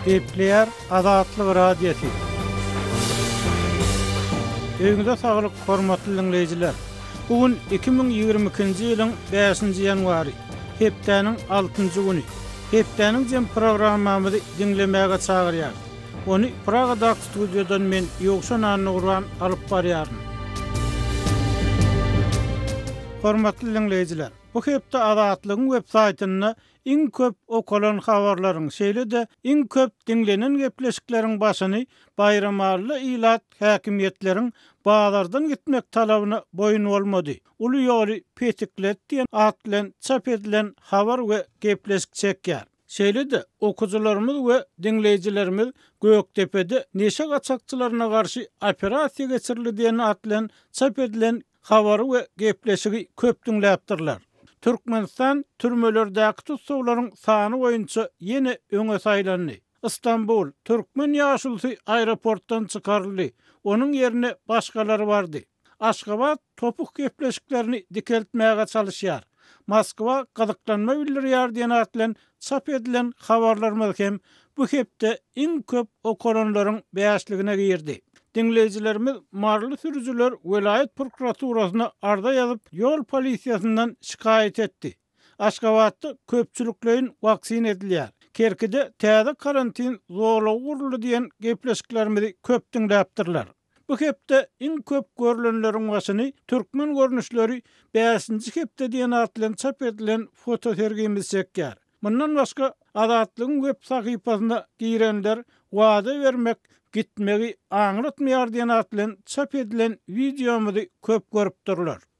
Gepleýär Azatlyk Radiosy. Öýüňize saglyk, hormatly diňleýjiler! Bu gün iki müň ýigrimi ikinji ýylyň bäşinji ýanwary, hepdäniň altynjy güni. Hepdäniň jemi programmamyzy diňlemäge çagyrýarys. Ony Pragadaky studiýadan men Ýowşan Annaguran alyp barýaryn. Hormatly diňleýjiler, bu hepde Azatlygyň web saýtynda iň köp okalan habarlaryň, şeýle-de iň köp diňlenen gepleşikleriň başyny Baýramally ilat häkimiýetleriň bazardan gitmek talabyna boýun bolmady, uly ýoly petiklet diýen at bilen çap edilen habar we gepleşik çekýär. Şeýle-de, okyjylarymyz we diňleýjilerimiz Gökdepede neşe gaçakçylaryna garşy operasiýa geçirildi diýen at bilen çap edilen habary we gepleşigi köp diňläpdirler. Türkmenistan türmelerdäki tussaglaryň sany boýunça ýene öňe saýlandy. Stambul, türkmen ýaşulusy aeroportdan çykaryldy, onuň ýerine başgalary bardy. Aşgabat topuk gepleşiklerini dikeltmäge çalyşýar. Moskwa gyzyklanma bildirýär diýen at bilen çap edilen habarlarymyz hem bu hepde iň köp okalanlaryň bäşligine girdi. Diňleýjilerimiz maryly sürüjiler welaýat prokuraturasyna arza ýazyp, ýol polisiýasyndan şikaýat etdi. Aşgabatda köpçülikleýin waksina edilýär. Kerkide täze karantin zolagy guruldy diýen gepleşiklerimizi köp diňläpdirler. Bu hepde iň köp görlenleriň başyny Türkmen görnüşleri bäşinji hepde diýen at bilen çap edilen fotosergimiz çekýär. Mundan başga, Azatlygyň web sahypasyna girenler Wada bermek, gitmegi aňlatmaýar diýen at bilen çap edilen wideomyzy köp görüpdirler.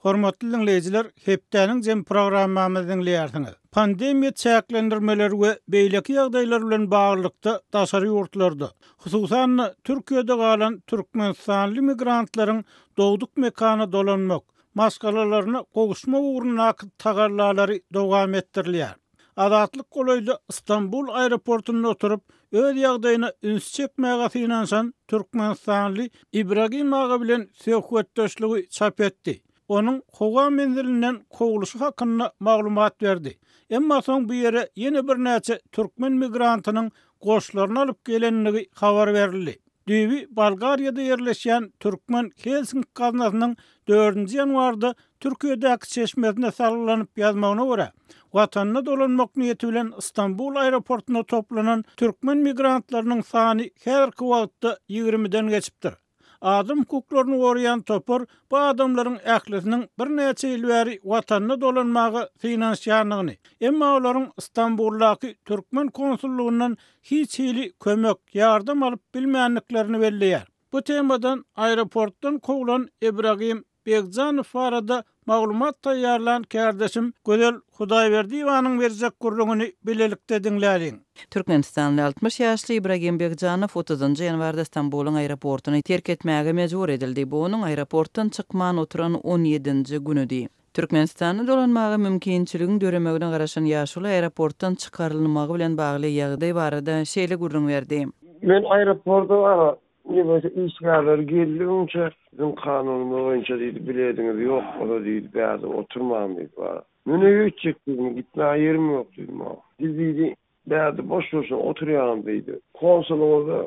Hormatly diňleýjiler, hepdäniň jemi programmamyzy diňleýärsiňiz. Pandemiýa çäklendirmeleri we beýleki ýagdaýlar bilen baglylykda daşary ýurtlarda, hususan-da, Türkiýede galan türkmenistanly migrantlaryň dogduk mekana dolanmak, maşgalalaryna gowuşmak ugrundaky tagallalary dowam etdirilýär. Azatlyk golaýda Stambul aeroportunda oturyp, öz ýagdaýyna üns çekmäge synanyşan türkmenistanly Ibragim aga bilen söhbetdeşligi çap etdi. Onuň howa menzilinden kowluşy hakynda maglumat berdi. Emma soň bu ýere ýene birnäçe türkmen migrantynyň goşlaryny alyp gelenligi habar berildi. Düýbi Bolgariýada ýerleşýän türkmen Helsinki gaznasynyň dördünji ýanwarda Türkiýedäki çeşmesine salgylanyp ýazmagyna görä, watanyna dolanmak niýeti bilen Stambul aeroportuna toplanan türkmen migrantlarynyň sany häzirki wagtda ýigrimiden geçipdir. Adam hukuklaryny goraýan topar bu adamlaryň ählisiniň birnäçe ýyl bäri watanyna dolanmaga synanyşýandygyny, emma olaryň Stambuldaky türkmen konsullygyndan hiç hili kömek, ýardam alyp bilmändiklerini belleýär. Bu temadan aeroportdan kowlan Ibragim Begjanow barada maglumat taýýarlan kärdeşim Gözel Hudaýberdiýewanyň berjek gürrüňini bilelikde diňläliň. Türkmenistanly altmyş ýaşly Ibragim Begjanow otuzynjy ýanwarda Stambulyň aeroportyny terk etmäge mejbur edildi. Bu onuň aeroportdan çykman oturan on ýedinji günüdi. Türkmenistana dolanmaga mümkinçiligiň döremegine garaşan ýaşuly aeroportdan çykarylmagy bilen bagly ýagdaý barada şeýle gürrüň berdi. Men aeroporda Nebiti işgärleri geldi öňçe, biziň kanunymyz boýunça diýdi, bilediňiz ýok ola diýdi, bärde oturman diýdi, bar. Men öýe gitjek diýdim, gitmäge ýerim ýok diýdi maňa. Biz diýdi, bärde boş-boşuna oturýarys diýdi. Konsulyňyza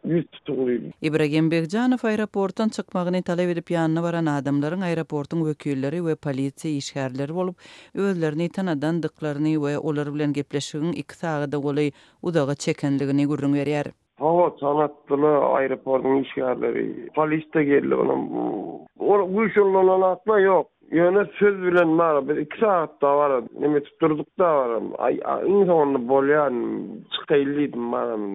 ýüz tutuň diýdi. Ibragim Begjanow aeroportdan çykmagyny talap edip ýanyna baran adamlaryň aeroportyň wekilleri we polisiýa işgärleri bolup, özlerini tanadan dyklaryny we olar bilen gepleşigiň iki sagada golaý uzaga çekendigini gürrüň berýär. Hawa, tanatdylar, aeroportyň işgärleri. Polis-de geldi, onam. Ol guýşunlanan zat-la ýok. Ýöne söz bilen bar, biz iki sagat dabara neme edip durduk dabaram. Aý, iň soňunda bolýan, çykaýyl diýdim, baram,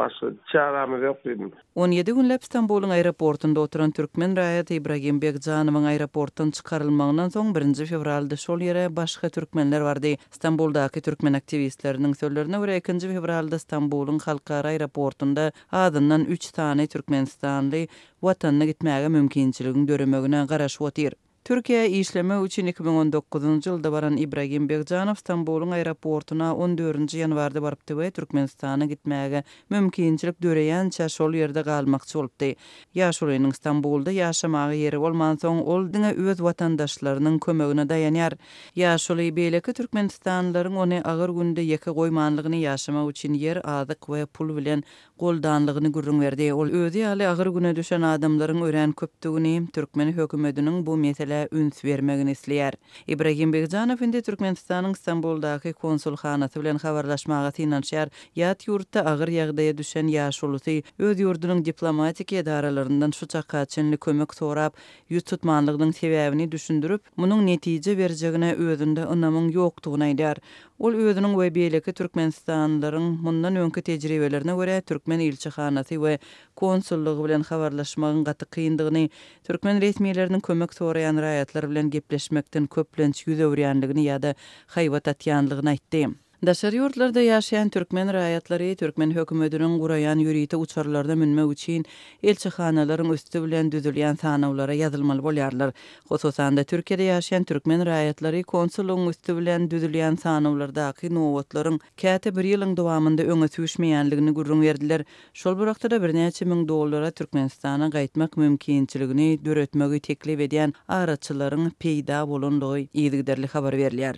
başga çärämiz ýok diýdim. On ýedi günläp Stambulyň aeroportynda oturan türkmen raýaty Ibragim Begjanowyň aeroportdan çykarylmagyndan soň birinji fewralda şol ýere başga türkmenler bardy. Stambuldaky türkmen aktiwistleriniň sözlerine görä, ikinji fewralda Stambulyň halkara aeroportunda azyndan üç sany türkmenistanly watanyna gitmäge mümkinçiligiň döremegine garaşyp otyr. Türkiýä işlemek üçin iki müň on dokuzynjy ýylda baran Ibragim Begžanow Stambulyň aeroportuna on dördünji ýanwarda barypdy we Türkmenistana gitmäge Mümkinçilik döreýänçä şol ýerde galmakçy bolupdy. Ýaşulynyň Stambulda ýaşamaga ýeri bolmansoň, ol diňe öz watandaşlarynyň kömegine daýanýar. Ýaşuly, beýleki türkmenistanlylaryň ony agyr günde ýeke goýmanlygyny, ýaşamak üçin ýer, azyk we pul bilen goldanlygyny gürrüň berdi. Ol özi ýaly agyr güne düşen adamlaryň örän köpdügini, türkmen hökümetiniň bu meselä üns bermegini isleýär. Ibragim Begžanow indi Türkmenistanyň Stambuldaky konsulhanasy bilen habarlaşmaga synanyşýar, ýat ýurtda agyr ýagdaýa düşen ýaşulusy öz ýurdunyň diplomatik edaralaryndan şu çaka çenli kömek sorap, ýüz tutmanlygynyň sebäbini düşündirip, munuň netije berjegine özünde ynamyň ýokdugyny aýdýar. Ol özüniň we beýleki türkmenistanlylaryň mundan öňki tejribelerine görä türkmen ilçihanasy we konsullygy bilen habarlaşmagyň gaty kyndygyny, Türkmen resmileriniň kömek soraýan raýatlar bilen gepleşmekden köplenç ýüz öwürýänligini ýa-da haýbat atýanlygyny aýtdy. Daşary ýurtlarda ýaşaýan türkmen raýatlary türkmen hökümetiniň guraýan ýörite uçarlaryna münmek üçin elçihanalaryň üsti bilen düzülýän sanawlara ýazylmaly bolýarlar. Hususan-da, Türkiýede ýaşaýan türkmen raýatlary konsullygyň üsti bilen düzülýän sanawlardaky nobatlaryň käte bir ýylyň dowamynda öňe süýşmeýänligini gürrüň berdiler, Şol bir wagtda-da birnäçe müň dollara Türkmenistana gaýtmak mümkinçiligini döretmegi teklip edýän araçylaryň peýda bolandygy yzygiderli habar berilýär.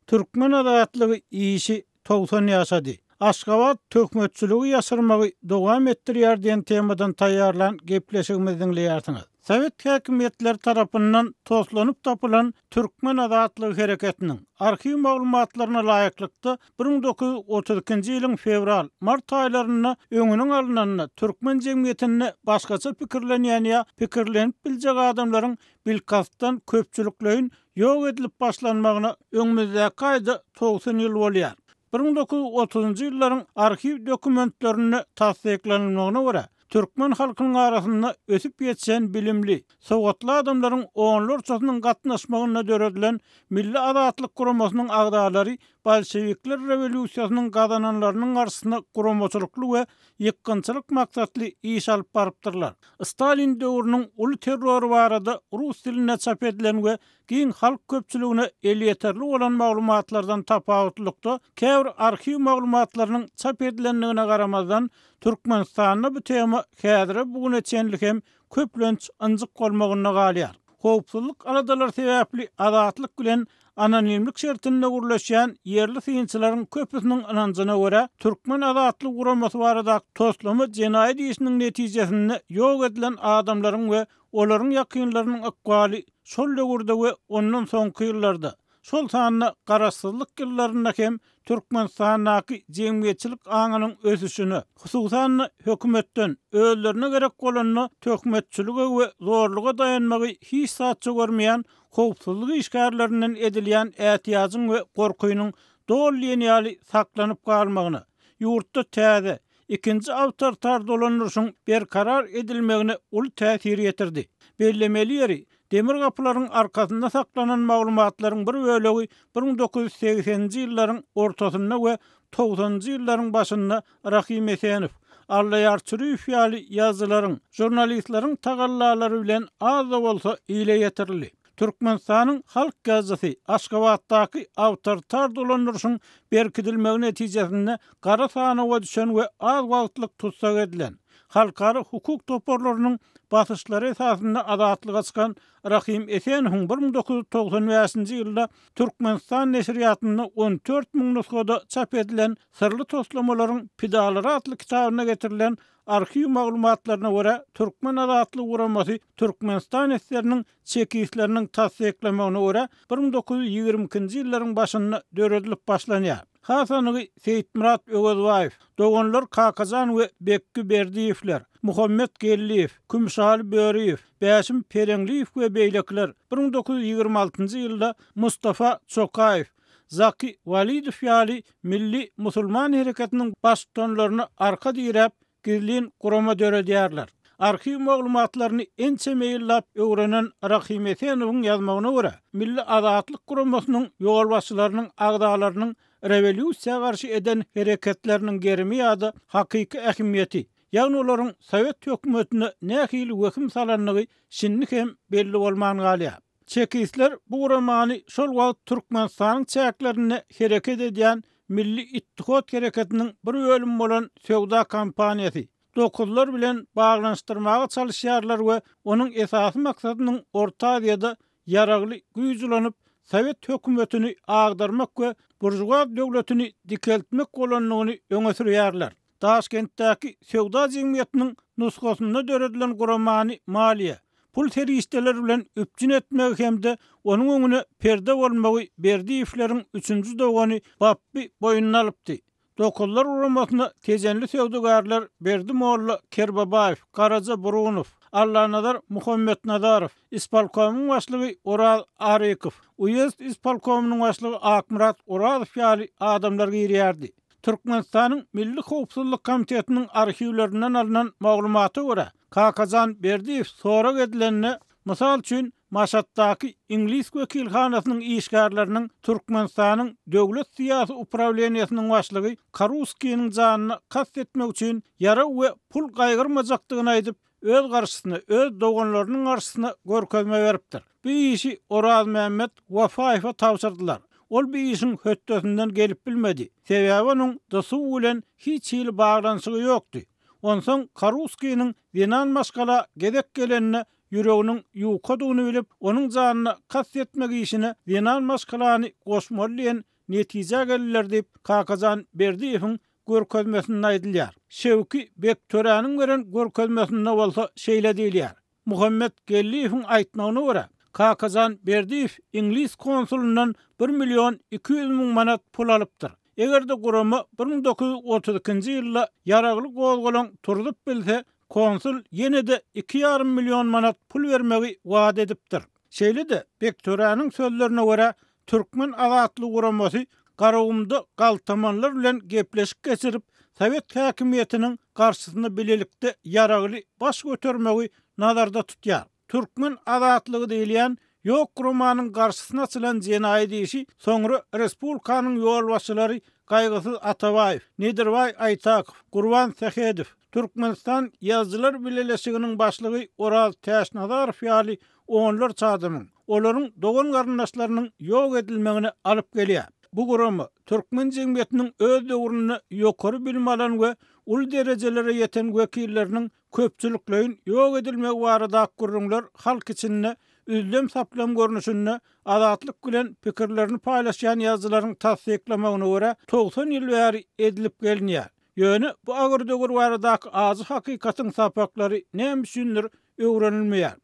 Türkmen azatlygy işi togsan ýaşady. Aşgabat töhmetçiligi ýaşyrmagy dowam etdirýär diýen temadan taýýarlan gepleşigimizi diňleýärsiňiz. Sowet häkimiýetleri tarapyndan toslanyp tapylan Türkmen azatlygy hereketiniň, arhiw maglumatlaryna laýyklykda, Bir müň dokuz ýüz otuz ikinji ýylyň fewral, mart aýlarynda öňüniň alnanda türkmen jemgyýetinde başgaça pikirlenýän ýa pikirlenip biljek adamlaryň bilkastdan köpçülikleýin ýok edilip başlanmagyna öňümizdäki aýda togsan ýyl bolýar. Bir müň dokuz ýüz otuzynjy ýyllaryň arhiw dokumentlerinde tassyklanylmagyna görä, Türkmen halkynyň arasynda ösüp ýetişen bilimli, sowatly adamlaryň onlarçasynyň gatnaşmagynda döredilen Milli Azatlyk guramasynyň agzalary bolşewikler rewolýusiýasynyň gazananlarynyň garşysyna guramaçylykly we ýykgynçylyk maksatly iş alyp barypdyrlar. Stalin döwrüniň uly terrory barada rus dilinde çap edilen we Giň halk köpçüligine elýeterli bolan maglumatlardan tapawutlylykda, käbir arhiw maglumatlarynyň çap edilendigine garamazdan, Türkmenistanda bu tema häzire bu güne çenli hem köplenç ynjyk bolmagynda galýar. Howpsuzlyk aladalary sebäpli Azatlyk bilen anonimlik şertinde gürleşýän ýerli synçylaryň köpüsiniň ynanjyna görä, Türkmen azatlygy guramasy baradaky toslama jenaýat işiniň netijesinde ýok edilen adamlaryň we Olaryň ýakynlarynyň ykbaly şol döwürde we ondan soňky ýyllarda, şol sanda Garaşsyzlyk ýyllarynda hem Türkmenistandaky jemgyýetçilik aňynyň ösüşine, hususan-da, hökümetden, özlerine gerek bolanda, töhmetçilige we zorluga daýanmagy hiç zatça görmeýän howpsuzlyk işgärlerinden edilýän ätiýajyň we gorkynyň doly diýen ýaly saklanyp galmagyna, ýurtda täze, Ikinji awtoritar dolandyryşyň berkarar edilmegine uly täsir ýetirdi. Bellemeli ýeri, demir gapylaryň arkasynda saklanan maglumatlaryň bir bölegi bir müň dokuz ýüz segseninji ýyllaryň ortasynda we togsanynjy ýyllaryň başynda Rahym Esenow, Allaýar Çüriýew ýaly ýazyjylaryň, žurnalistleriň tagallalary bilen az-da bolsa ile ýetirildi. Türkmenistanyň Halk Gazeti Aşgabatdaky awtoritar dolandyryşyň berkidilmegi netijesinde gara sanawa düşen we az wagtlyk tussag edilen, halkara hukuk toparlarynyň basyşlary esasynda azatlyga çykan Rahym Esenowyň bir müň dokuz ýüz togsan bäşinji ýylda Türkmenistan neşirýatynda on dört müň nusgada çap edilen Syrly toslamalaryň pidalary atly kitabynda getirilen arhiw maglumatlaryna görä, Türkmen azatlyk guramasy Türkmenistan SSR-niň Çekistleriniň tassyklamagyna görä, bir müň dokuz ýüz ýigrimi ikinji ýyllaryň başynda döredilip başlanýar. Has anygy, Seýitmyrat Öwezbaýew, doganlar Kakajan we Bekgi Berdiýewler, Muhammet Geldiýew, Kümüşaly Böriýew, Bäşim Peleňliýew we beýlekiler bir müň dokuz ýüz ýigrimi altynjy ýylda Mustafa Çokaýew, Zaky Walidow ýaly milli musulman hereketiniň baştutanlaryna arka diräp, gizlin gurama döredýärler. Arhiw maglumatlaryny ençeme ýyllap öwrenen Rahym Esenowyň ýazmagyna görä, Milli Azatlyk guramasynyň ýolbaşçylarynyň agzalarynyň rewolýusiýa garşy eden hereketleriniň gerimi ýa-da hakyky ähmiýeti, ýagny olaryň sowet hökümetine nähili wehim salandygy şindi hem belli bolman galýar. Çekistler bu guramany şol wagt Türkmenistanyň çäklerinde hereket edýän Milli ittihat hereketiniň bir bölümi bolan söwda kompaniýasy, Dokuzlar bilen baglanyşdyrmaga çalyşýarlar we onuň esasy maksadynyň Orta Aziýada ýaragly güýç ulanyp, sowet hökümetini agdarmak we buržuaz döwletini dikeltmek bolandygyny öňe sürýärler. Daşkentdäki söwda jemgyýetiniň nusgasynda döredilen guramany maliýe, pul serişdeleri bilen üpjün etmegi hem-de onuň öňüne perde bolmagy Berdiýewleriň üçünji dogany Bapby boýnuna alypdy. Dokuzlar guramasyna tejenli söwdagärler Berdi molla Kerbabaýew, Garaja Burunow, Allanazar Muhammetnazarow, ispolkomyň başlygy Oraz Arykow, uýezd ispolkomynyň başlygy Akmyrat Orazow ýaly adamlar girýärdi. Türkmenistanyň Milli howpsuzlyk komitetiniň arhiwlerinden alnan maglumata görä, Kakajan Berdiýew sorag edilende, mysal üçin, Maşatdaky iňlis wekilhanasynyň işgärleriniň Türkmenistanyň Döwlet syýasy uprawleniýesiniň başlygy Karuskiniň janyna kast etmek üçin ýarag we pul gaýgyrmajakdygyny aýdyp, öz garşysyna, öz doganlarynyň garşysyna görkezme beripdir. Bu işi Orazmämmet Wafaýewe tabşyrdylar. Ol bu işiň hötdesinden gelip bilmedi. Sebäbi onuň DSU bilen hiç hili baglanyşygy ýokdy. Onsoň Karuskiniň zenan maşgala gezek gelenine ýüreginiň ýukadygyny bilip, onuň janyna kast etmek işine zenan maşgalany goşmaly diýen netijä geldiler diýip, Kakajan Berdiýewiň görkezmesinde aýdylýar. Şewki bek töräniň beren görkezmesinde bolsa şeýle diýilýär, Muhammet Geldiýewiň aýtmagyna görä, Kakajan Berdiýew iňlis konsulyndan bir million iki ýüz müň manat pul alypdyr. Eger-de gurama bir müň dokuz ýüz otuz ikinji ýylda ýaragly gozgalaň turzup bilse, Konsul ýene-de iki ýarym million manat pul bermegi wada edipdir. Şeýle-de, Bektöräniň sözlerine görä, Türkmen azatlygy guramasy Garagumda galtamanlar bilen gepleşik geçirip, sowet häkimiýetiniň garşysyna bilelikde ýaragly baş götermegi nazarda tutýar. Türkmen azatlygy diýilýän ýok romanyň garşysyna açylan jenaýat işi soňra respublikanyň ýolbaşçylary Gaýgysyz Atabaýew, Nedirbaý Aýtakow, Gurban Sähedow, Türkmenistan Ýazyjylar bileleşiginiň başlygy Oraz Täçnazarow ýaly onlarça adamyň, olaryň dogan-garyndaşlarynyň ýok edilmegine alyp gelýär. Bu gurama türkmen jemgyýetiniň öz döwründe ýokary bilim alan we uly derejelere ýeten wekilleriniň köpçülikleýin ýok edilmegi baradaky gürrüňler halk içinde üzlem-saplam görnüşinde Azatlyk bilen pikirlerini paýlaşýan ýazyjylaryň tassyklamagyna görä, togsan ýyl bäri edilip gelinýär. Ýöne bu agyr döwür baradaky ajy hakykatyň sapaklary näme üçindir öwrenilmeýär.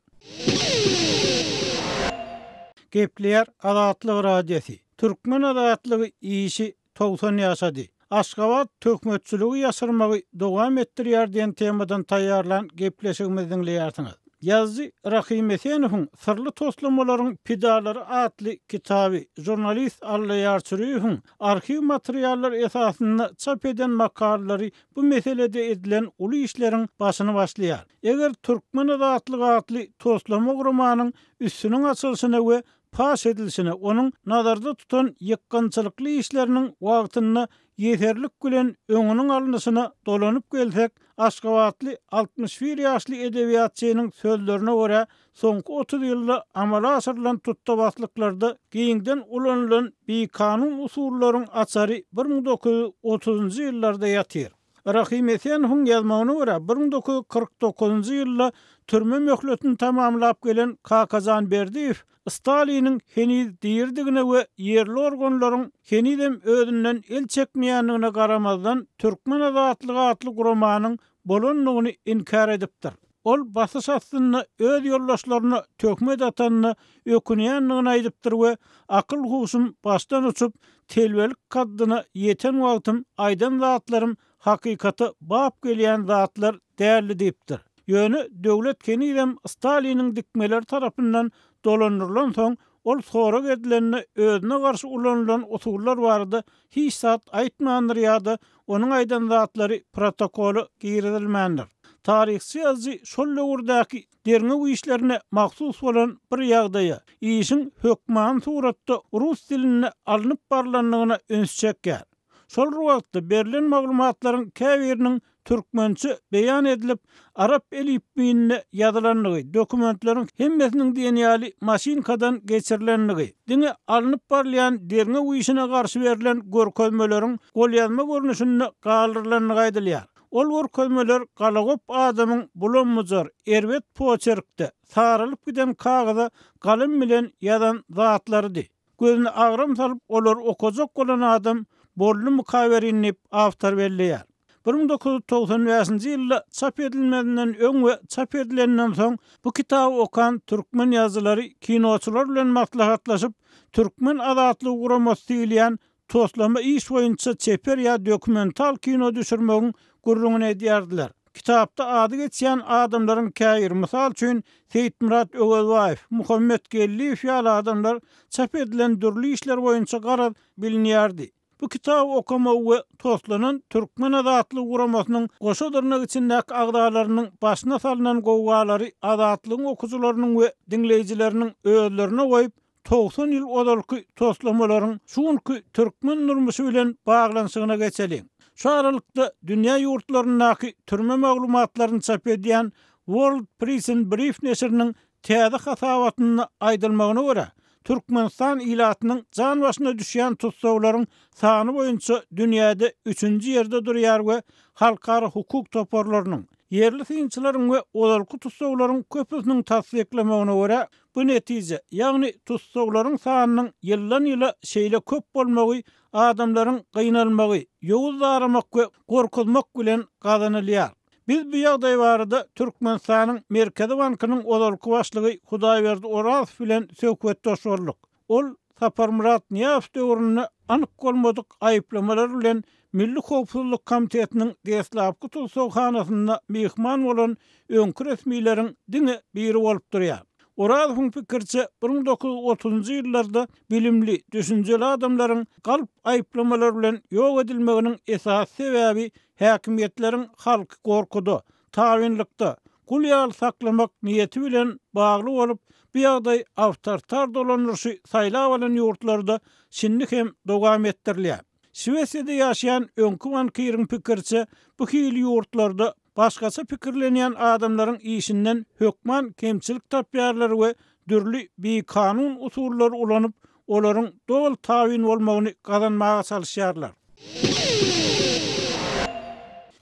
Gepleýär Azatlyk Radiosy. Türkmen azatlygy işi togsan ýaşady. Aşgabat töhmetçiligi ýaşyrmagy dowam etdirýär diýen temadan taýýarlan gepleşigimizi diňleýärsiňiz. Ýazyjy Rahym Esenowyň Syrly toslamalaryň pidalary atly kitaby žurnalist Alla Ýarçüriýewiň arhiw materiallary esasynda çap eden makalalary bu meselede edilen uly işleriň başyny başlaýar. Eger Türkmen azatlygy atly toslama guramanyň üstüniň açylyşyna we paş edilişine, onuň nazarda tutan ýykgynçylykly işleriniň wagtynda ýeserlik bilen öňüniň alnyşyna dolanyp gelsek, aşgabatly altmyş bir ýaşly edebiýatçynyň sözlerine görä, soňky otuz ýylda amala aşyrylan tutdabaslyklarda giňden ulanylan bikanun usullaryň açary bir müň dokuz ýüz otuzynjy ýyllarda ýatyr. Rahym Esenowyň ýazmagyna görä, bir müň dokuz ýüz kyrk dokuzynjy ýylda türme möhletini tamamlap gelen Kakajan Berdiýew Staliniň heniz diridigine we ýerli organlaryň henizem özünden el çekmeýändigine garamazdan Türkmen azatlygy atly guramanyň bolandygyny inkär edipdir. Ol basyş astynda öz ýoldaşlaryna töhmet atanyna ökünýändigini aýdypdyr we akyl-huşum başdan uçup, telbelik kaddyna ýeten wagtym aýdan zatlarym hakykata bap gelýän zatlar däldi diýipdir. Ýöne Döwlet henizem Staliniň dikmeleri tarapyndan dolandyrylansoň, Ol sorag edilende özüne garşy ulanylan usullar barada hiç zat aýtmandyr ýa-da onuň aýdan zatlary protokola girizilmändir. Taryhçy ýazyjy şol döwürdäki derňew işlerine mahsus bolan bir ýagdaýa, işiň hökmany suratda rus dilinde alnyp barlandygyna üns çekýär. Şol wagtda berlen maglumatlaryň käbiriniň türkmençe beýan edilip, arap elipbiýinde ýazylandygy, dokumentleriň hemmesiniň diýen ýaly maşynkadan geçirilendigi, diňe alnyp barylýan derňew işine garşy berlen görkezmeleriň golýazma görnüşinde galdyrylandygy aýdylýar. Ol görkezmeler galagop adamyň bulam-bujar, erbet poçerkde, saralyp giden kagyza galym bilen ýazan zatlarydy. Gözüne agram salyp, olary okajak bolan adam boldumyka welin diýip, awtor belleýär. Bir müň dokuz ýüz togsan bäşinji ýylda çap edilmezinden öň we çap edilenden soň bu kitaby okan türkmen ýazyjylary kinoçylar bilen maslahatlaşyp, Türkmen azatlygy guramasy diýilýän Toslama iş boýunça çeper ýa dokumental kino düşürmegiň gürrüňini edýärdiler. Kitapda ady geçýän adamlaryň käbiri, mysal üçin, Seýitmyrat Öwezbaýew, Muhammet Geldiýew ýaly adamlar çap edilen dürli işler boýunça garaz bilinýärdi. Bu kitaby okamagy we toslanan Türkmen azatlygy guramasynyň goşa dyrnak içindäki agzalarynyň başyna salnan gowgalary Azatlygyň okyjylarynyň we diňleýjileriniň özlerine goýup, Togsan ýyl ozalky toslamalaryň şu günki türkmen durmuşy bilen baglanyşygyna geçeliň. Şu aralykda dünýä ýurtlaryndaky türme maglumatlaryny çap edýän World Prison Brief neşiriniň täze hasabatynda aýdylmagyna görä, Türkmenistan ilatynyň jan başyna düşýän tussaglaryň sany boýunça dünýäde üçünji ýerde durýar we halkara hukuk toparlarynyň, Ýerli synçylaryň we ozalky tussaglaryň köpüsiniň tassyklamagyna görä, bu netije, ýagny tussaglaryň sanynyň ýyldan-ýyla şeýle köp bolmagy adamlaryň gynalmagy, ýowuz zaramak we gorkuzmak bilen gazanylýar. Biz bu ýagdaý barada Türkmenistanyň Merkezi bankynyň ozalky başlygy Hudaýberdi Orazow bilen söhbetdeş bolduk. Ol Saparmyrat Nyýazow döwründe anyk bolmadyk aýyplamalar bilen Milli howpsuzlyk komitetiniň deslapky tussaghanasynda myhman bolan öňki resmileriň diňe biri bolup durýar. Orazowyň pikiriçe, bir müň dokuz ýüz otuzynjy ýyllarda bilimli, düşünjeli adamlaryň galp aýyplamalar bilen ýok edilmeginiň esasy sebäbi häkimiýetleriň halky gorkuda, tabynlykda, gul ýaly saklamak niýeti bilen bagly bolup, bu ýagdaý awtoritar dolandyryşy saýlap alan ýurtlarda şindi hem dowam etdirilýär. Şwesiýada ýaşaýan öňki bankiriň pikiriçe, bu hili ýurtlarda başgaça pikirlenýän adamlaryň işinden hökman kemçilik tapýarlar we dürli bikanun usullary ulanyp, olaryň doly tabyn bolmagyny gazanmaga çalyşýarlar.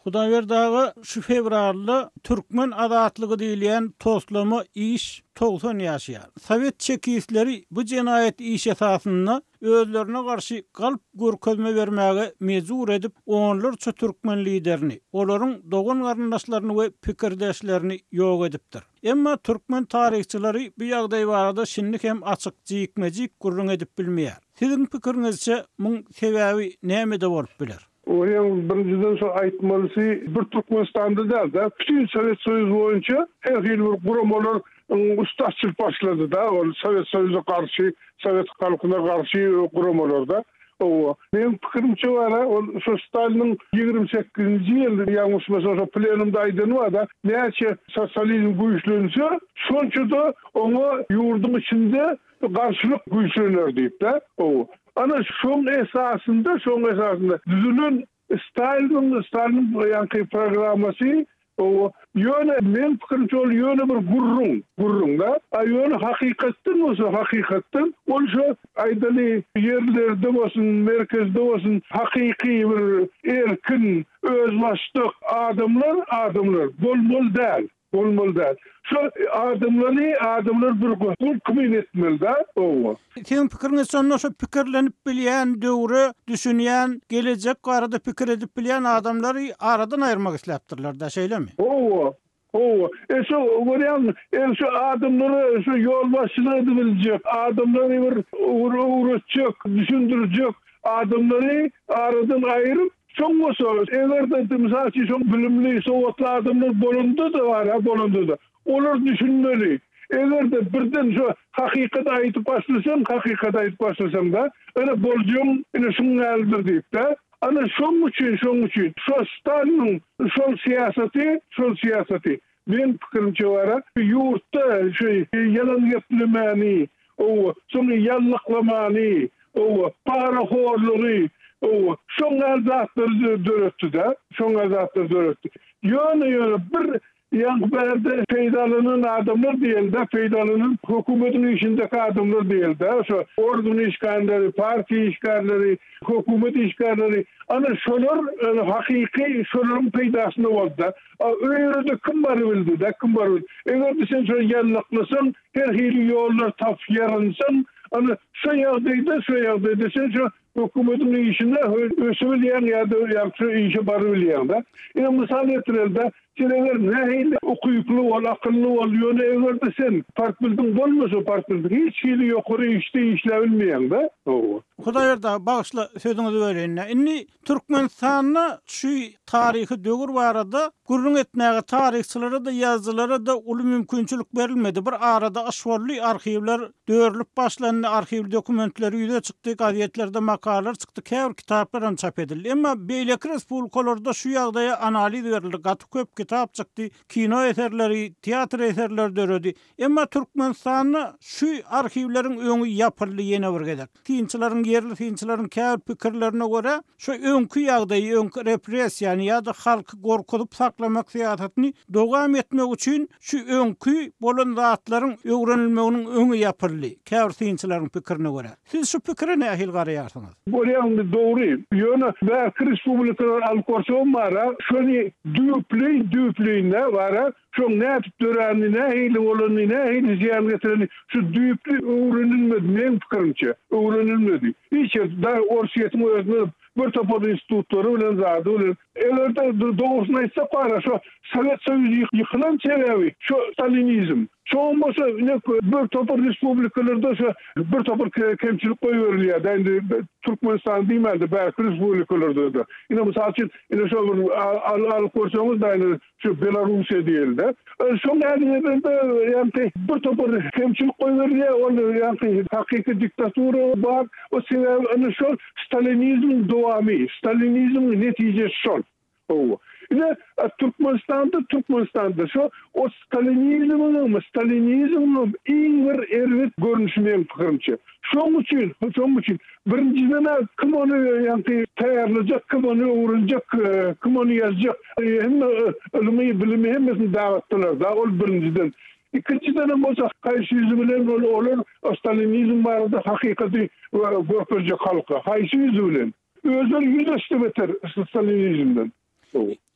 Hudaýberdi aga şu fewralda Türkmen azatlygy diýilýän toslama iş togsan ýaşaýar. Sowet çekistleri bu jenaýat iş esasynda özlerine garşy galp görkezme bermäge mejbur edip onlarça türkmen liderini, olaryň dogan-garyndaşlaryny we pikirdeşlerini ýok edipdir. Emma türkmen taryhçylary bu ýagdaý barada şindi hem açyk jikme-jik gürrüň edip bilmeýär. Siziň pikiriňizçe, muň sebäbi nämede bolup biler? Welin, birinjiden şo aýtmalysy, bir Türkmenistanda däl-de, bütin Sowet Soýuzy boýunça her hili bir guramalar üstaş çykyp başlady-da, ol Sowet Soýuza garşy, sowet halkyna garşy guramalar-da. Hawa, meniň pikirimçe bar-a, ol şo Staliniň ýigrimi sekizinji ýyl, ýalňyşmasam, şo plenumda aýdany bar-da, näçe sosializm güýçlense, şonça-da oňa ýurduň içinde garşylyk güýçlener diýip-de. Hawa, ana, şoň esasynda, şoň esasynda düzülen Staliniň Staliniň ýaňky programmasy o ýöne meň pikirimçe ol ýöne bir gürrüň gürrüňdä a ýöne hakykatdan bolsa hakykatdan ol şo aýdaly ýerlerde bolsun merkezde bolsun hakyky bir erkin özbaşdak adamlar adamlar bolmaly däl. Bolmaly däl. Şo adamlary adamlar bir gohul kmen etmeli da oňa. Siziň pikiriňiz şonda şo pikirlenip bilýän döwre düşünýän gelejek barada pikir edip bilýän adamlary aradan aýyrmak isläpdirler da şeýlemi? Howa howa e şo görýäňmi e şo adamlara şo ýolbaşçylyk edibiljek adamlary bir öwretjek düşündirjek adamlary aradan aýryp Şoň bolsa, eger-de, mysal üçin, şoň bilimli, sowatly adamlar bolanda-da bar-a, bolanda-da, olar düşünmeli. Eger-de, birden şo hakykaty aýdyp başlasaň, hakykaty aýdyp başlasaň-da, ine, boljagyň ine şuň ýalydyr diýip-de, ana, şoň üçin, şoň üçin, şo Staliniň şol syýasaty, şol syýasaty, Meň pikirimçe bara ýurtda şu ýalan geplemani, owo, soň ýallaklamani, owo, para horlugy, owo, şoň gal zatlary döretdi da, şoň gal zatlary döretdi. Ýöne ýöne bir ýaňky bärde peýdalanan adamlar diýeli da, peýdalanan hökümetiň işindeki adamlar diýeli da, şo organ işgärleri, partiýa işgärleri, hökümet işgärleri, ana şolar hakyky şolaryň peýdasyna boldy da. A o ýerde kim bar bildi-dä, kim bar bildi. Eger-de sen şony ýallaklasaň, her hili ýollar tapyp ýaransaň, ana, şu ýagdaýda, şu ýagdaýda sen şu hökümetiň işine ösübilýäň ýa-da ýa-da şu işe barybilýäň-dä. Ine, mysal getireli-dä, sen eger nähili ukyply bol, akylly bol, ýöne eger-de sen partldiň bolmasa, partldiň hiç hili ýokary işde işläbilmeýäň-dä. Hawa. Hudaýberdi aga, bagyşla, sözüňizi böleýin-dä. Indi Türkmenistanda şu taryhy döwür barada gürrüň etmäge taryhçylara-da, ýazyjylara-da uly mümkinçilik berilmedi. Bir arada yş boldy, arhiwler dörülip başlandy, arhiw dokumentleri ýüze çykdy, gazetlerde makalalar çykdy, käbir kitaplaram çap edildi. Emma beýleki respublikalarda şu ýagdaýa analiz berildi, gaty köp kitap çykdy, kino eserleri, teatr eserleri döredi. Emma Türkmenistanda şu arhiwleriň öňi ýapyldy ýene bir gezek. Synçylaryň, ýerli synçylaryň käbir pikirlerine görä, şu öňki ýagdaýy, öňki repressiýany ýa-da halky gorkuzyp saklamak syýasatyny dowam etmek üçin şu öňki bolan zatlaryň öwrenilmeginiň öňi ýapyldy, käbir synçylaryň pikirine görä. Siz şu pikire nähili garaýarsyňyz? Görýäňmi, dogry. Ýöne bärki respublikadan alyp barsaň bara, şony düýpleýin-düýpleýine bara Şoň nädip döränini, nähili bolanyny, nähili zyýan getirenini şu düýpli öwrenilmedi, meň pikirimçe, öwrenilmedi. Hiç ýerde, daýy Orsýetiň özünde bir topar institutlary bilen, zady bilen, eger-de dogrusyny aýtsak bara, şo Sowet Soýuzy ýykylan sebäbi şo stalinizm. Şoňam bolsa ine bir topar respublikalarda şo bir topar kemçilik goýberilýär-dä, indi Türkmenistany diýmän-de, bärki respublikalarda-da. Ine, mysal üçin, ine şo bir alyp görseňiz, daýy, Şu Belarussiýa diýildi. Şol nädegedende ýagny bir topar kemçilik goýberilýär. Ol ýagny hakyky diktatura bar. O sebäbi ine şol stalinizmiň dowamy, stalinizmiň netijesi şol. Hawa. Ine Türkmenistanda, Türkmenistanda şu o stalinizmiň, stalinizmiň iň bir erbet görnüşi meň pikirimçe. Şoň üçin, şoň üçin, birinjiden-ä kim ony ýaňky taýýarlajak, kim ony öwrenjek, kim ony ýazjak, hemme ylmy, bilimi hemmesini dagatdylar da, ol birinjiden. Ikinjidenem bolsa, haýsy ýüzi bilen ol, olar stalinizm barada hakykaty görkezjek halka, haýsy ýüzi bilen? Özleri ýüz öçse beter stalinizmden.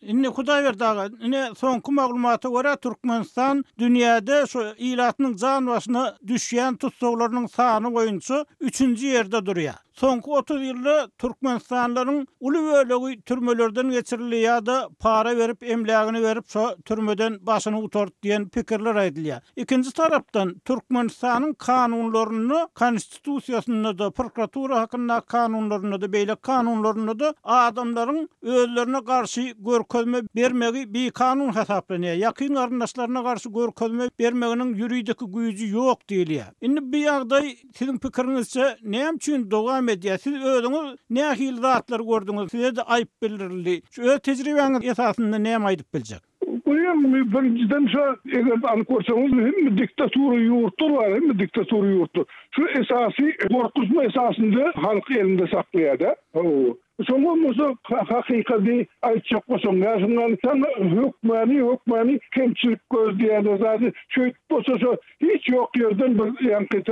Indi Hudaýberdi aga, ine soňky maglumata görä Türkmenistan dünýäde şu ilatynyň jan başyna düşýän tussaglarynyň sany boýunça üçünji ýerde durýar. Soňky otuz ýylda türkmenistanlylaryň uly bölegi türmelerden geçirildi ýa-da para berip emlägini berip şo türmeden başyny gutardy diýen pikirler aýdylýar. Ikinji tarapdan Türkmenistanyň kanunlarynda Konstitusiýasynda-da, prokuratura hakyndaky kanunlarynda-da, beýleki kanunlarynda-da adamlaryň özlerine garşy görkezme bermegi bikanun hasaplanýar. Ýakyn garyndaşlaryna garşy görkezme bermeginiň ýuridik güýji ýok diýilýär. Indi bu ýagdaý siziň pikiriňizçe näme üçin dowam edýär? Siz özüňiz nähili zatlary gördüňiz? Size-de aýyp bildirildi. Şu öz tejribäňiz esasynda näme aýdyp biljek? Goýaň, birinjiden şo, eger alyp görseňiz, hemme diktatura ýurtlar bar, hemme diktatura ýurtlar. Şu esasy gorkuzma esasynda halky elinde saklaýar-da. Hawa. Şoň bolmasa, hakykady aýtjak bolsaň, Ýaşyňalysam, hökmany, hökmany kemçilik gözleýärler zady. Şeýdip bolsa, şo hiç ýok ýerden bir ýaňky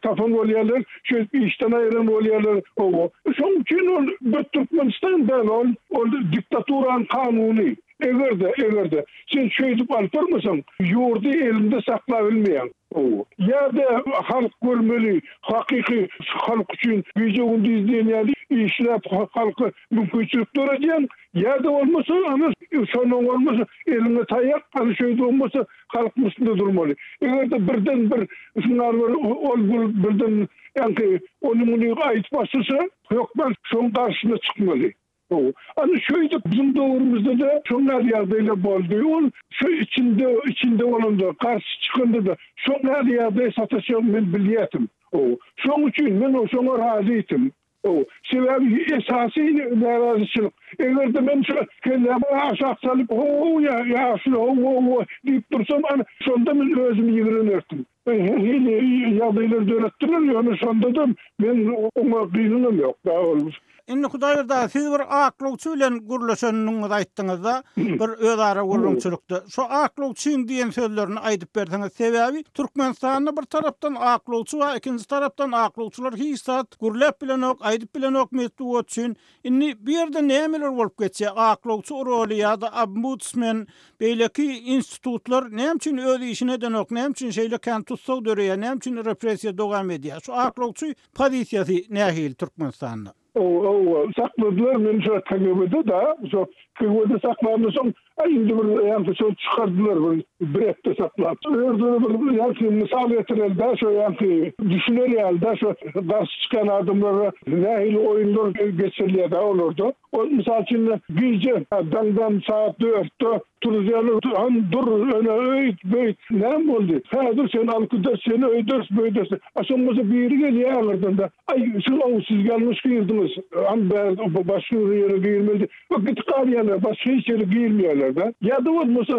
tapan bolýarlar, şeýdip işden aýyran bolýarlar. Hawa. Şoň üçin ol bir Türkmenistan däl, ol, ol diktaturanyň kanuny. Eger-de, eger-de, sen şeýdip alyp barmasaň, ýurdy eliňde saklabilmeýäň. Gowy. Ýa-da halk görmeli, hakyky şu halk üçin gije-gündiz diýen ýaly işläp, halka mümkinçilik döredýäň, ýa-da bolmasa, ana, şondan bolmasa, eliňe taýak, ana, şeýdip hem bolsa, halkyň üstünde durmaly. Eger-de birden-bir şuňar bir ol-bul birden, ýagny, ony-muny aýdyp başlasa, hökman şoň garşysyna çykmaly. Gowy. Ana şeýdip biziň döwrümizde-de şol näz ýagdaýlar boldy. Ol şu içinde içinde bolandyr. Garşy çykanda-da şol näz ýagdaýa sataşagyny men bilýärdim. Gowy. Şoň üçin men o şoňa razyýdim. Gowy. Sebäbi esasy närazyçylyk. Eger-de men şu kellämi aşak salyp ho-ho-ho ýa ýaşuly ho-ho-ho diýip dursam, ana şonda men özümi ýigrenerdim. Hili ýagdaýlar döretdiler, ýöne şondadam men oňa gynyňam ýok da ol. Indi Hudaýberdi siz bir aklawçy bilen gürleşendigiňizi aýtdyňyzda bir özara gürrüňçilikde. Şo aklawçyň diýen sözlerini aýdyp berseňiz sebäbi Türkmenistanda bir tarapdan aklawçy bar ikinji tarapdan aklawçylar hiç zat gürläp bilenok aýdyp bilenok metbugat üçin Indi bu ýerde nämeler bolup geçýär? Aklawçy uruly ýa-da obmudsmen, beýleki institutlar näme üçin öz işini edenok? Näme üçin şeýle kän tussag döreýär? Näme üçin repressiýa dowam edýär? Şu aklawçy pozisiýasy nähili Türkmenistanda? Ow, ow, sakladylar meni şo KGB-de-da, şo KGB-de saklandysoň, Aý indi bir ýaňky söz çykardylar bir bir hepde saklap. Özüne bir ýaňky mysal getireli-dä şo ýaňky düşüner ýaly-dä şo garşy çykan adamlara nähili oýunlar geçirilýär-dä olarda. Ol mysal üçin gije daňdan sagat dörtde turuzýarlar han dur öne öýt beýt näme boldy häzir seni alyp gideris seni öýderis beýderis diýip a şoň bolsa biri gelýär aňyrdan-da aý siz ow siz ýalňyş girdiňiz han bäri başga bir ýere girmeli Bu gidip galýarlar, başga hiç ýere girmeýärler-de. Ýa-da bolmasa,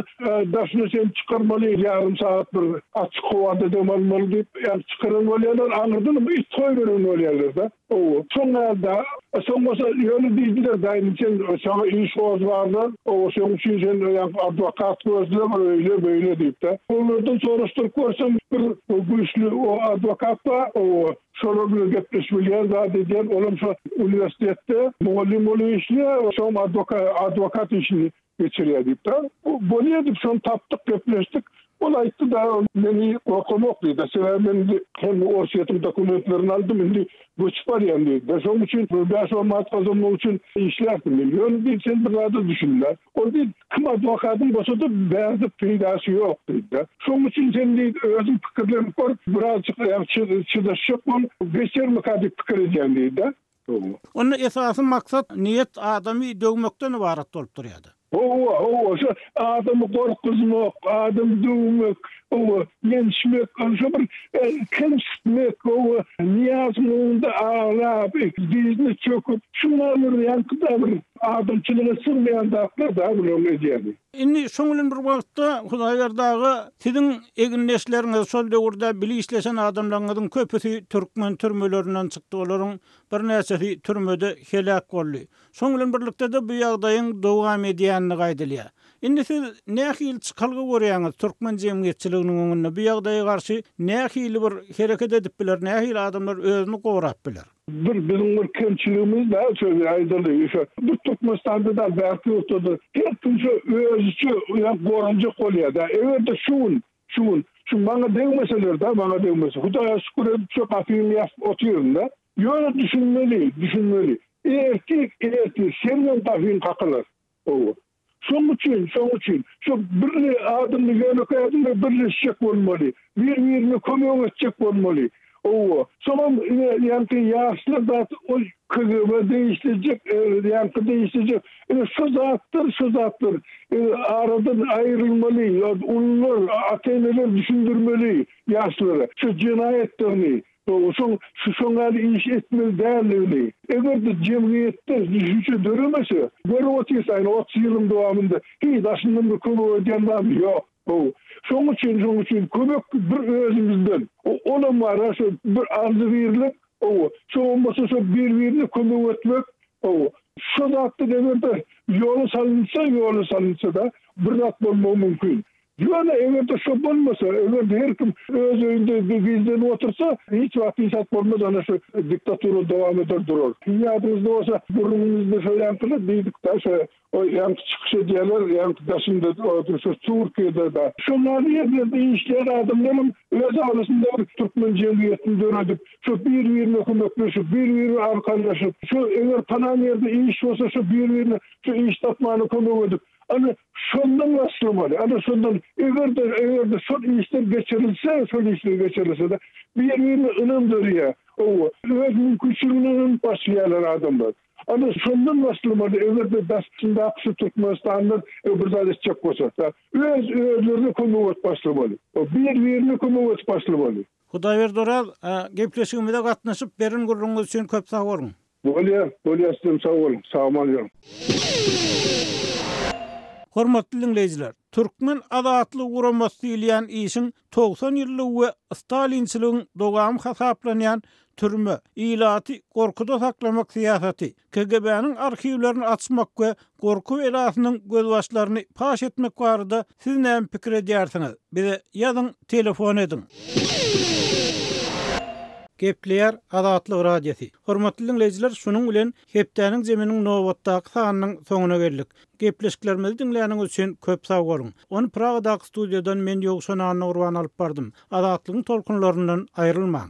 daşyna çenli çykarmaly, ýarym sagat bir açyk howada dem almaly diýip, ýa-da çykaran bolýarlar, aňyrdanam it goýberen bolýarlar-da. Oba, şoň ýaly-da. Soň bolsa ýöne diýdiler, Daýny sen saňa iş goz barlar, oba, şoň üçin sen ýa-da adwokat gözle, bir öýle-beýle diýip-de. Olardan soraşdyryp görsem, bir güýçli adwokat bar, oba, Şolar bilen gepleşip bilýär zat edýär. Olam şo uniwersitetde mugallym bolup işleýär, şoňam adwoka adwokat işini geçirýär diýipdir. Bolýa diýip şony tapdyk, gepleşdik. Ol aýtdy dagy meni gorkamok diýdi. Sebäbi men indi hem Orsýetiň dokumentlerini aldym, indi göçüp barýan diýdi. Şonuň üçin bir bäş-on manat gazanmak üçin işlärsiňmi? Ýöne diýdi sen bir zada düşünme. Ol diýip, Kim adwokadyň bolsa da bärde peýdasy ýok diýdi-de. Şoň üçin sen diýdi, özüň pikirlenip gör, birazjyk aýak çydaşjak bol, geçermika diýip pikir edýän diýdi-de. Hawa. Onda esasy maksat, niýet adamy döwmekden ybarat bolup durýa-da. Hawa, hawa, şo adamy gorkuzmak, adamy döwmek, hawa, ýençmek, şo bir kemsitmek, hawa, Nyýazyň öňünde aglap, dyzyna çöküp, şuňa öwürýänki-dä bir Adamçylyga sygmaýan zatlar da bular edýäni. Indi şoň bilen bir wagtda Hudaýberdi aga siziň egindeşleriňiz şol döwürde bile işleşen adamlaryňyzyň köpüsi türkmen türmelerinden çykdy olaryň bir näçesi türmede heläk boldy. Şoň bilen birlikde-de bu ýagdaýyň dowam edýänligi aýdylýar. Indi siz nähili çykalga görýäňiz türkmen jemgyýetçiliginiň öňünde bu ýagdaýa garşy nähili bir hereket edip biler nähili adamlar özüni gorap biler. Dur biziň bir kemçiligimiz bar şöyle aýdaly şu bir Türkmenistanda dal bärki ýurtdadyr her kim şu özüçe ýa goranjak bolýa da egerde şu gün şu gün şu maňa degmeseler da maňa degmese hudaýa şükür edip şu gapymy ýapyp otyryn da ýöne düşünmeli düşünmeli ertir ertir senden gapyň kakylar ow Şoň üçin, şoň üçin şu birli adymly, ýönekeý adymly birleşjek bolmaly. Bir-birine kömek etjek bolmaly. Owo. Soňam ine, ýaňky ýaşlar zat ol KGB-a degişlejek, ýaňky degişlejek. Ine, şu zatlar, şu zatlar aradan aýrylmaly. Ýa ulular, ata-eneler düşündirmeli ýaşlara şu jenaýatlaryny. Oňaçam şu şoň ýaly iş etmeli däldigini, eger-de jemgyýetde düşünje döremese, görüp otyrsaň, otuz ýylyň dowamynda hiç daşyndan bir kömek edýän zady ýok. How, şoň üçin, şoň üçin kömek bir özümizden, olam bar-a şu bir arzy birlik, how, şoňam bolsa şu bir-birine kömek etmek, how, şu zatlar eger-de ýola salynsa, ýola salynsa-da bir zat bolmagy mümkin. Ýöne eger-de şo bolmasa, eger-de her kim öz öýünde bi gizlenip otursa, hiç wagt hiç zat bolmaz, ana şu diktatura dowam eder durar. Siziň ýadyňyzda bolsa, gürrüňimizde şo ýaňkyda diýdik-dä, şo oý ýaňky çykyş edýärler, ýaňky daşynda oturyp şo Türkiýede-de. Şo näme ýerlerde işleýän adamlaram öz arasynda bir türkmen jemgyýetini döredip, şo bir-birine kömekleşip, bir-birine arkanlaşyp, şo eger palan ýerde iş bolsa, şo bir-birine şo iş tapmana kömek edip, Ana, şondan başlamaly. Ana, şondan eger-de, eger-de şol işler geçirilse, şol işler geçirilse-de, bir-birine ynam dörýär. Hawa, öz mümkinçiligine ynanyp başlaýarlar adamlar. Ana, şondan başlamaly, eger-de daşyndaky şu Türkmenistanlar bir zat etjek bolsa. Öz, özlerine kömek edip başlamaly. Bir-birine kömek edip başlamaly. Hudaýberdi Oraz, gepleşigimize gatnaşyp, beren gürrüňiňiz üçin köp sag boluň! Bolýa bolýa üstünem sag boluň sagmal ýöriň. Hormatly diňleýjiler, Türkmen azatlyk guramasy diýilýän işiň togsan ýyllygy we stalinçiligiň dowamy hasaplanýan türme, ilaty gorkuda saklamak syýasaty, KGB-niň arhiwlerini açmak we Gorky belasynyň gözbaşlaryny paş etmek barada siz näme pikir edýärsiňiz? Bize ýazyň, telefon ediň. Gepleýär Azatlyk Radiosy. Hormatly diňleýjiler, şunuň bilen Hepdäniň Zeminiň nobatdaky sanynyň soňuna geldik. Gepleşiklerimizi diňläniňiz üçin köp sag boluň. Ony Pragadaky studiýadan men Ýowşan Annagurban alyp bardym. Azatlygyň tolkunlaryndan aýrylmaň.